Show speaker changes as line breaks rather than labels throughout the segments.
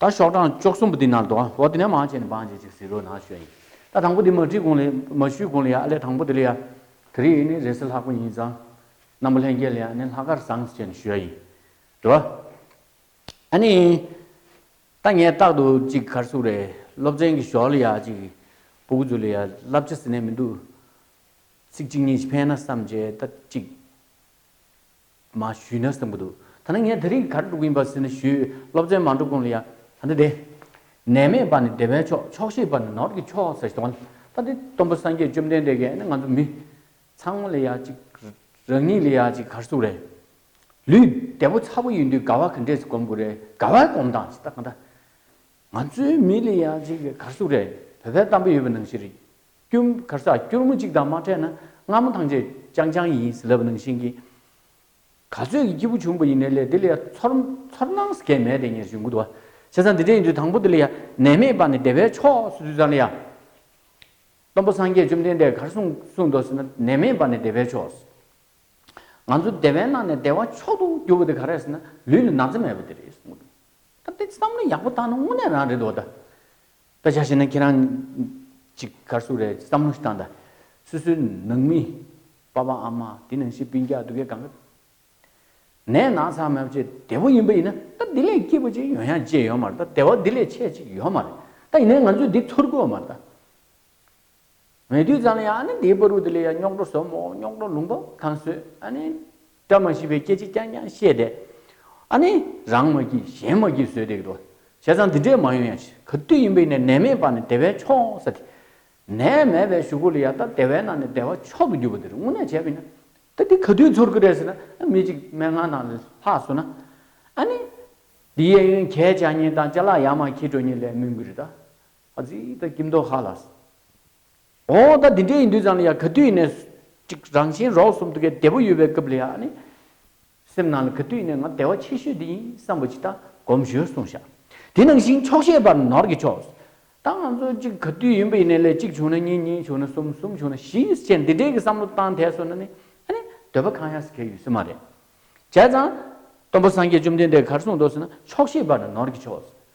ད་ཤོག་གྲངས་བཅོ་གསུམ་པོ་འདི་ནར་འདོག་ཨོ་དེ་ནས་མང་བྱས་ནས་འབངས་བྱེད་ཅིག་ཟེར་རོ་ན་ཤོད་ཡིན། ད་དང་པོ་འདི་མ་བྲིས་གོང་ལས་མ་ཞུས་གོང་ལ་ཡང་ཨ་ལས་དང་པོ་འདི་ལ་ཡང། དེ་རིང་ནི་རེས་ལྷག་པོ་ཡིན་ཙང། རྣམ་པ་ལྷན་རྒྱས་ལ་ཡང་ནི་ལྷག་དཀར་བཟང་བྱས་ནས་ཞུ་ཡ་ཡིན། དྲི་བ། ཨ་ནི། ད་ངས་རྟག་ཏུ་གཅིག་གར་སུག་རེད་སློབ་ཚན་གྱི་ཞོར་ལ་ཡང་གཅིག་པོ་ཀུ་ཅོ་ལ་ཡང་བསླབ་བྱ་ཟེར་ནས་མི་འདུག། ཚིག་གཅིག་གཉིས་ཕན་ན་བསམ་བྱས་ད་གཅིག། མ་ཞུས་ན་བསམ་གྱི་འདུག་ད་ནི་ངས་དེ་རིང་གར་འགྲོ་གིན་པ་ཟེར་ནས་ཞུས། སློབ་ཚན་མ་འགྲོ་གོང་ལ་ཡང། ད་འདི་བདེ། ནད་མེད་པ་ནི་བདེ་བའི་མཆོག་ཆོག་ཤེས་པ་ནི་ནོར་གྱི་མཆོག་ཟེར་གྱི་འདུག་ད་འདི་སྟོན་པ་སངས་རྒྱས་བཅོམ་ལྡན་འདས་ཀྱིས་ནི་ང་ཚོ་མི། ཚང་མ་ལ་ཡ་གཅིག། རང་ཉིད་ལ་ཡ་གཅིག་གར་སོང་རེད། ལུས་བདེ་པོ་ཚ་པོ་ཡིན་དུས་དགའ་བ་ག་འདྲས་སུ་སྒོམ་དགོས་རེད་དགའ་བའི་སྒོམ་སྟངས་ཇི་ལྟ་ག་འདྲ། ང་ཚོའི་མི་ལ་ཡ་གཅིག་གར་སོང་རེད་བོད་པའི་གཏམ་དཔེ་ཡོད་པ་ནང་བཞིན་རེད། སྐྱུར། གར་སར་སྐྱུར་མོ་གཅིག་དང་མ་ཕྲད་ན་སྔ་མོ་ཐང་ཆད་ཅང་ཅང་ཡིན་ཟེར་ལབ་ནང་བཞིན་གྱི། ག་ཚོད་ཀྱི་སྐྱིད་པོ་བྱུང་བ་ཡིན་ནའི་ལས་འདི་ལ་ཡ་ཚོར་ཚོར་སྣང་ཟེར་མཁན་མེད་དེ་ཉེར་བཞི་འགུ་དུ་བ། བྱས་ཙང་འདི་འདྲ་ཡིན་དུས་དང་པོ་འདི་ལ་ཡ་ནད་མེད་པ་ནས་བདེ་བའི་ཕྱོགས་སུ་འཛུལ་ཙང་ལ་ཡ། སྟོན་པ་སངས་རྒྱས་བཅོམ་ལྡན་འདས་གར་སོང་གསུངས་འདོག་ཟེར་ན་ནད་མེད་པ་ནས་བདེ་བའི་ཕྱོགས་སུ། ང་ཚོ་བདེ་བའི་ནང་ནས་བདེ་བ་མཆོག་ཏུ་གྱུར་བ་དེ་ག་རེད་ཟེར་ན་ལུས་ལ་ན་ཚ་མེད་པ་དེ་རེད་འགུ་དུ་བ། ད་འདི་བསམ་བློ་ཡག་པོ་བཏང་ན་དངོས་གནས་རང་རེད་འདུག་བ་ད། སྐད་ཆ་བཤད་ན་ཁྱེད་རང་ཅིག་གར་སོ་རེད་བསམ་བློ་ཞིག་བཏང་ད། སུ་སུ་ནང་མི། པ་པ་ཨ་མ་དེ་ནང་ཤེས་པིན་རྒྱག་འདུག་གས་གང་གི། ནས་ནག་ཚ་མོད་བྱེད་དེ་བོ་ཡིན་པ་ཡིན་ན་ད་དེ་ལས་སྐྱིད་པོ་ཅིག་ཡོང་ཡ་བྱེད་ཡོད་མ་རེད་ད་དེ་བ་དེ་ལས་ཆད་ཅིག་ཡོད་མ་རེད་ད་ཡིན་ནས་ང་ཚོས་དེ་ཚུར་དགོས་མ་རེད་ད། ངས་དུས་ཙམ་ཡང་ཨ་ནི་འདིའི་པར་རུ་དེ་ལས་ཡང་རྙོག་གྲོ་ཟོ་མོ་རྙོག་གྲོ་ལུང་པ་གང་བཟོས་ཨ་ནི། བཀྲ་མ་ཤིས་པའི་སྐད་ཅིག་རྐྱང་རྐྱང་བཤད་དེ། ཨ་ནི། རང་མ་སྐྱིད་གཞན་མ་སྐྱིད་བཟོས་དེ་གི་འགྲོ། བྱས་ཙང་འདི་འདྲས་མ་ཡོང་ཡང་ཤི་ག་དུས་ཡིན་པས་ནས་ནད་མེད་པ་ནི་བདེ་བས་ཆོག་ས་དེ། ནད་མེད་པའི་ཞུ་སྒོ་ལ་ཡར་ལྟ་བདེ་བའི་ནང་ནས་བདེ་བ་མཆོག་ཏུ་གྱུར་པ་དེ་རུ་དངོས་གནས་བྱས་པ་ཡིན་ན། ད་འདི་ག་དུས་ཚོར་གི་རེད་ཟེར་ན་མི་གཅིག་མན་ངག་ནང་ལས་ལྷག་བཟོ་ན། ཨ་ནི། འདི་གཡས་གཡོན་གྱད་བྱ་གཉིས་དང་བྱ་གླག་ཡར་མར་འཁྱིལ་འགྲོ་གཉིས་ལས་མིན་གི་རེད་ད། ཨ་ཙི་ད་སྐྱིད་མདོག་ཧ་ལགས། འོ་ད་འདི་འདྲས་ཡིན་དུས་ཙང་ལ་ཡ་ག་དུས་ཡིན་ནས་ཅིག་རང་བཞིན་རོགས་གསུམ་ཐུགས་ཀའི་བདེ་པོ་ཡོད་པའི་སྐབས་ལ་ཡ་ནི། སེམས་ནང་ལ་ག་དུས་ཡིན་ནས་ང་དལ་བ་ཆེ་ཤོས་འདི་ཡིན་བསམ་པ་ཅིག་ད་གོམས་ཞོལ་གསུངས་བཞག་དེ་ནང་བཞིན་ཆོག་ཤེས་པར་ནོར་གྱི་ཆོག་ད་ང་ཚོ་ཅིག་ག་དུས་ཡིན་པ་ཡིན་ནས་ལས་གཅིག་བྱུང་ན་གཉིས་གཉིས་བྱུང་ན་གསུམ་གསུམ་བྱུང་ན་བཞི་བྱས་འདི་འདྲས་ཀྱི་བསམ་བློ་བཏང་དལ་སོང་ན་ནི་ཨ་ནི་འདོད་པ་གང་ཡག་སི་ཁའི་ཡུལ་སི་མ་རེད། བྱས་ཙང། སྟོན་པ་སངས་རྒྱས་བཅོམ་ལྡན་འདས་གར་གསུངས་མདོ་སི་ན་ཆོག་ཤེས་པར་ནོར་གྱི་ཆོག་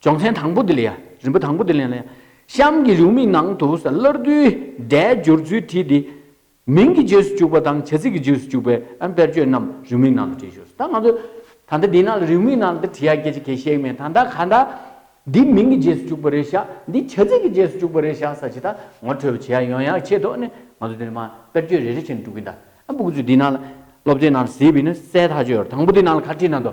སྦྱོང་ཚན་དང་པོ་འདི་ལ་ཡ། རིམ་པ་དང་པོ་འདི་ལ་ཡ། གཤམ་གྱི་ལེའུ་མིག་ནང་དུ་ས་སླར་བསྡུའི་སྒྲའི་སྦྱོར་ཚུལ་བྲིས་ཏེ། མིང་གི་རྗེས་སུ་བཅུག་པ་དང་བྱ་ཚིག་གི་རྗེས་སུ་བཅུག་པའི་དཔེར་བརྗོད་རྣམས་རེའུ་མིག་ནང་དུ་བྲིས་ཞོག་ད་ང་ཚོ་ད་ལྟ་འདི་ནང་ལ་རེའུ་མིག་ནང་དུ་བྲིས་ཡ་སྐད་ཆ་གལ་ཤེས་ཀྱི་མེད་ད་ད་ག་ད། འདི་མིང་གི་རྗེས་སུ་བཅུག་པ་རེད་ཤག་འདི་བྱ་ཚིག་གི་རྗེས་སུ་བཅུག་པ་རེད་ཤག་ས་ཅི་ད་ངོ་འཕྲོད་པ་བྱེད་ཡ་ཡོང་ཡ་ཆེད་དོ་ནས་ང་ཚོ་འདི་ནས་མ་དཔེར་བརྗོད་རེ་རེ་བྱས་ནས་འགྲོ་གི་འདའ། ཨ་འབུ་གུ་ཚོས་འདི་ནང་ལ་སློབ་ཚན་ནང་ལ་ཟེར་བའི་ནི་གསལ་ཐག་ཆོད་རེད་དང་པོ་འདི་ནང་ལ་ཁ་བྲིས་ན་འདོ་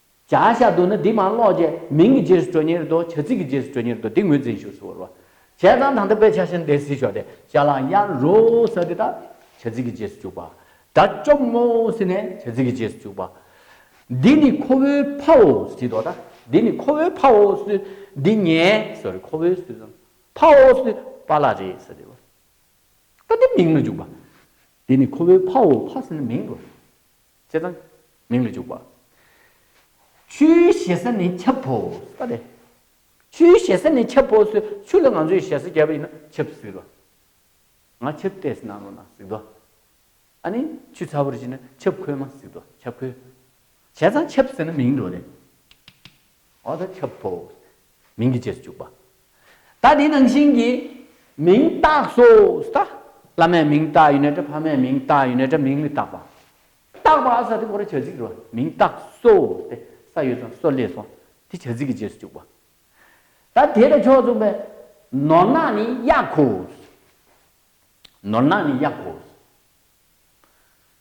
བྱ་བྱ་དུ་ནི་དེ་མ་ཀློག་ཀྱི། མིང་གི་རྗེས་སུ་དྲོད་ཉེར་ཟློག་བྱ་ཚིག་གི་རྗེས་སུ་དྲོད་ཉེར་ཟློག་དེ་ངོས་འཛིན་བཞུགས་སུ་བོར་བ། བྱས་ཙང་དང་དུ་དཔེ་ཆ་བཞིན་དེ་སྲིད་ཞོག་དེ་བྱ་ལ་ཡར་རོ་ས་དེ་དག་བྱ་ཚིག་གི་རྗེས་སུ་བཅུག་པ། དགྲ་བཅོམ་ངོ་ས་ནས་བྱ་ཚིག་གི་རྗེས་སུ་བཅུག་པ། འདི་ནི་ཁོ་བོའི་ཕའོ་སི་དོ་ད་འདི་ནི་ཁོ་བོའི་ཕའོ་སུ་འདི་ངའི་སོ་རེ་ཁོ་བོའི་སུ་ཟང་ཕའོ་སུ་པ་ལ་རེ་ས་རེ་བ། ད་དེ་མིང་ལ་བཅུག་པ། འདི་ནི་ཁོ་བོའི་ཕའོ་ཕ་ས་ནི་མིང་རོ། ཅེས་དང། མིང་ལ་འཇུག་པ། ཆུའི་ཞེ་ས་ནི་ཆབ་བོ་ས་རེད། ཆུའི་ཞེ་ས་ནི་ཆབ་བོ་སི་ཆུ་ལ་ང་ཚོས་ཞེ་ས་བརྒྱབ་པ་ཡིན་ན་ཆབ་སི་རོ། ང་ཆབ་བལྟས་སི་ནང་ལོ་ན་སི་རྡོ། ཨ་ནི་ཆུ་ཚ་བོར་བྱས་ན་ཆབ་ཁོལ་མ་སི་རྡོ་ཆབ་ཁོལ། བྱས་ཙང་ཆབ་སི་ན་མིང་རྡོ་རེད། འོ་ད་ཁྱབ་བོ། མིང་གི་རྗེས་སུ་བཅུག་པ། ད་དེའི་ནང་བཞིན་གྱི། མིང་བཏགས་སོ། ད། བླ་མའི་མིང་བཏགས་ཡིན་ནའི་འདྲ་ཕ་མའི་མིང་བཏགས་ཡིན་ནའི་འདྲ་མིང་མི་བཏགས་པ། བཏགས་པ་ས་དེ་གོ་རེ་བྱ་ཚིག་རེད་བ། མིང་བཏགས་སོ། ཏེ་ས་ཡོད་ཙང་སོ་ལས་སོ། དེ་བྱ་ཚིག་གི་རྗེས་སུ་བཅུག་པ། ད་དེ་དང་ཕྱོགས་མཚུངས་པའི། ནོར་ནག་ནི་གཡག་གོ། ནོར་ནག་ནི་གཡག་གོ།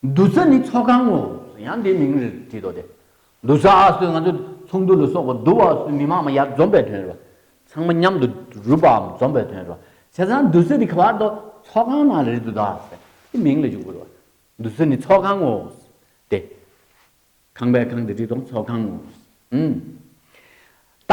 བསྡུ་ས་ནི་ཚོགས་ཁང་ངོ། ཡང་དེའི་མིང་རེ་བྲིས་ཏོ་དེ། བསྡུ་ས་ཨ་སོས་ང་ཚོ་ཚོགས་འདུ་ལ་སོགས་པ་བསྡུ་བ་སོས་མི་མང་མ་ཡར་འཛོམས་པའི་དོན་རེད་བ། ཚང་མ་མཉམ་དུ་རུབ་པའམ་འཛོམས་པའི་དོན་རེད་བ། བྱས་ཙང་བསྡུ་ས་དེ་ག་བར་དུ་ཚོགས་ཁང་ནང་རེད་དོ་ད་ཟེར། དེ་མིང་ལ་འཇུག་དགོས་རེད་བ། བསྡུ་ས་ནི་ཚོགས་ཁང་ངོ། དེ། ཁང་པའི་ཁང་དེ་བྲིས་ཏོ་ཚོགས་ཁང་ངོ། ཨིན། ད།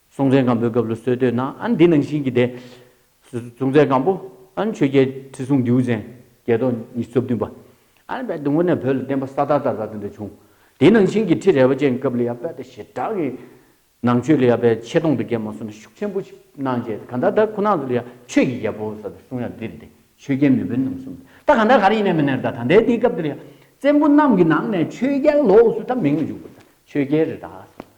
སྲོང་བཙན་སྒམ་པོའི་སྐབས་ལ་སོས་དོད་ན་ཨན་འདི་ནང་བཞིན་གྱི་སྡེ། སྲོང་བཙན་སྒམ་པོ་ཨན་ཆོས་རྒྱལ་ཁྲི་སྲོང་ལྡེའུ་བཙན་རྒྱལ་ཐོག་ཉིས་བཅུ་བདུན་པ། ཨན་པད་དུང་བོ་ནས་བོད་ལ་བསྟན་པ་ས་ཐག་བསྟར་བ་དེ་འདྲ་བྱུང། དེའི་ནང་བཞིན་གྱི་ཁྲི་རལ་པ་ཅན་སྐབས་ལི་ཡ་པད་དུ་ཞེ་དྲག་གི། ནང་ཆོས་ལི་ཡ་པད་ཆེ་མཐོང་དུ་སྐྱེས་མ་སོང་ན་ཤུགས་ཆེན་པོ་ཞིག་གནང་བྱས་ཏེ་གང་ལྟར་ད་ཁོ་ནང་དུ་ལི་ཡ་ཆོས་ཀྱི་རྒྱལ་པོ་ཟེར་བའི་གསུང་ཡང་འདིར་འདི་ཆོས་རྒྱལ་མི་དཔོན་རྣམས་གསུང་སྟེ་ད་གང་ལྟར་ག་རེ་ཡིན་ནས་མི་སྣེར་ད་ད་ལྟའི་དེའི་སྐབས་དེ་ལི་ཡ་བཙན་པོ་རྣམས་ཀྱི་ནང་ནས་ཆོས་རྒྱལ་ལོགས་སུ་ད་མིང་མི་འཇུག་པར་ད་ཆོས་རྒྱལ་རི་དྭགས་ཟེར་བ།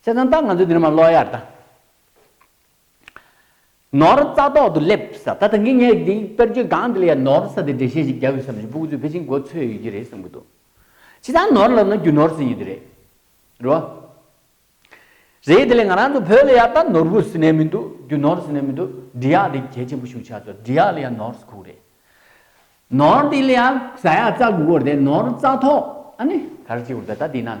བསད་དང་བཏགས་ང་ཚོས་འདི་ནས་མ་ཀློག་ཡར་བལྟ། ནོར་རྩ་ཐོག་ཏུ་སླེབས་ས་ད་ད་གིན་ངས་འདིའི་དཔེར་བརྗོད་སྒང་འདི་ལ་ཡང་ནོར་ས་དེ་འགྲེལ་བཤད་ཞིག་རྒྱག་དགོས་བསམ་བཞིན་སྤུ་གུ་ཚོས་ཕལ་ཆེར་མགོ་འཚོས་ཡོད་ཀྱི་རེད་བསམ་གྱི་འདུག་ཇི་ལྟར་ནོར་ལབ་ན་རྒྱུ་ནོར་ཟིན་ཡོད་ཀྱི་རེད་རེད་བ། རེད་དེ་ལས་ང་རང་ཚོ་བོད་ལ་ཡར་བལྟ་ནོར་བུ་ཟིན་ནས་མི་འདུག་རྒྱུ་ནོར་ཟིན་ནས་མི་འདུག་འབྲི་གཡག་དེ་གལ་ཆེན་པོ་ཤུགས་ཆགས་ཚོར་འབྲི་གཡག་ལ་ཡང་ནོར་ས་ཁུག་རེད། ནོར་འདི་ལ་ཡང་ས་ཡག་རྩ་དགུ་བོར་དེ་ནོར་རྩ་ཐོག་ཨ་ནི་ག་རེ་བྱེད་དགོས་རེད་ད་ལྟ་འདི་ན།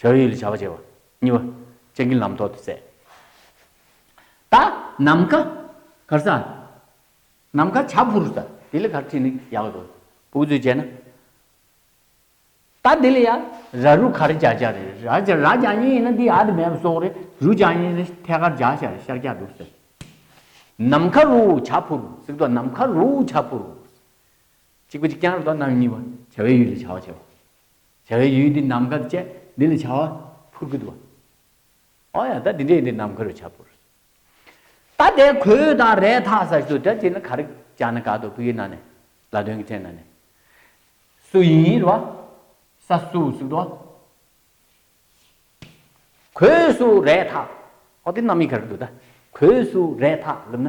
བྱ་བའི་ཡུལ་ལ་བྱ་བ་བྱེད་པ། གཉིས་པ། སྤྱན་གྱི་ལམ་ཐོག་ཏུ་བཙལ། ད། ནམ་མཁའ། གར་ས། ནམ་མཁའ་བྱ་ཕུར་ས། དེ་ལས་གར་ཁྲིད་ནི་ཡག་ལ་དགོས། བུག་ཙུའི་བྱས་ན། ད་དེ་ལས་ཡ། ར་རུ་གར་བྱ་བྱ་རེད། ར་བྱ་ར་བྱ་གཉིས་ཡིན་ན་དེ་ཡ་དེ་མེད་པ་སོག་རེད། རུ་བྱ་གཉིས་ཡིན་ན་ཐད་ཀར་བྱ་བྱ་རེད་ཤར་སྐྱ་འདུག་ཟེར། ནམ་མཁའ་རུ་བྱ་ཕུར་གཟིགས་དོ་ནམ་མཁའ་རུ་བྱ་ཕུར། གཅིག་པ་གཅིག་རྐྱང་རེད་དོ་གནང་གཉིས་པ། བྱ་བའི་ཡུལ་ལ་བྱ་བ་བྱེད་པ། བྱ་བའི་ཡུལ་འདི་ནམ་མཁའ་དུ་བཅས། འདི་ལ་བྱ་བ་ཕུར་བུ་དུ་བ། ཨོ་ཡ་ད་འདི་འདྲའི་འདི་ནམ་མཁའ་རུ་བྱ་ཕུར། ད་དེ་གོས་དང་རས་ཐག་ས་ཞོ་དེ་བྱས་ན་ག་རེ་བྱ་ན་ག་དོ་བུ་ཡི་ན་ནས་ལ་དོན་གྱི་ཚེ་ན་ནས། སུ་ཡིན་ཡིན་རུ་བ། ས་སུ་སུ་དུ་བ། གོས་སུ་རས་ཐག་ཨོ་དེ་རྣམ་དབྱེ་ག་རེ་དུ་ད་གོས་སུ་རས་ཐག་ལབ་ན།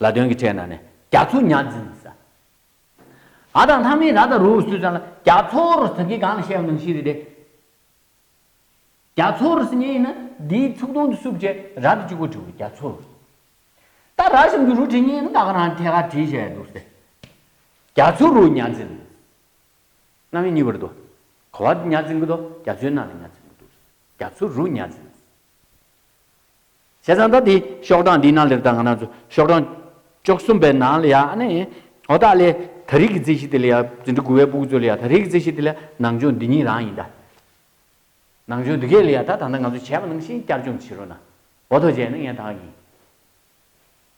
ལ་དོན་གྱི་ཕྲད་ན་ནི་རྒྱ་མཚོ་གཉའ་འཛིན་ས། ཨ་དང་ལྷ་མིན་ར་དང་རུ་སུས་ཙང་ལ་རྒྱ་མཚོ་རུ་ཟེར་གི་གང་ལ་བཤད་པ་ནང་བཞིན་རེད་དེ། རྒྱ་མཚོ་རུ་ཟེར་ཉེན་ཡིན་ན་དེའི་ཚུགས་སྟོང་དུ་སུབ་བྱས་ར་དེ་གཅིག་པོ་བྲི་བ་རྒྱ་མཚོ་རུ། ད་ར་གཤམ་གྱི་རུ་བྲི་ཉེན་ཡིན་ན་ད་ག་རང་ཐད་ཀར་བྲིས་བཞག་ཡ་འདུག་ཟེར། རྒྱ་མཚོ་རུ་གཉའ་འཛིན་ས། གནའ་མི་གཉིས་པར་དུ། གོ་བ་དུ་གཉའ་འཛིན་གི་དུ་རྒྱ་མཚོའི་ནང་ལ་གཉའ་འཛིན་གི་འདུག་ཟེར། རྒྱ་མཚོ་རུ་གཉའ་འཛིན་ས། བྱས་ཙང་ད་དེའི་ཤོག་གྲངས་འདིའི་ནང་ལེགས་དང་གནག་ཚུལ་ཤོག་གྲངས་བཅོ་གསུམ་པའི་ནང་ལ་ཡང་ནི། འོ་ད་ལས་ད་རིགས་ཀྱི་རྩིས་གཞི་དེ་ལ་ཡང་ཟིན་བྲིས་དགུ་བའི་པུ་གུ་ཚོ་ལ་ཡང་ད་རིགས་ཀྱི་རྩིས་གཞི་དེ་ལ་ནང་སྦྱོང་འདི་གཉིས་རང་ཡིན་ད། ནང་སྦྱོང་འདི་གས་ལ་ཡང་ད་ད་ལྟ་ང་ཚོས་བྱས་པ་ནང་བཞིན་བསྐྱར་སྦྱོང་བྱེད་རོགས་གནང། འོ་ཐོག་བྱས་ནི་ངས་དག་ཡིན།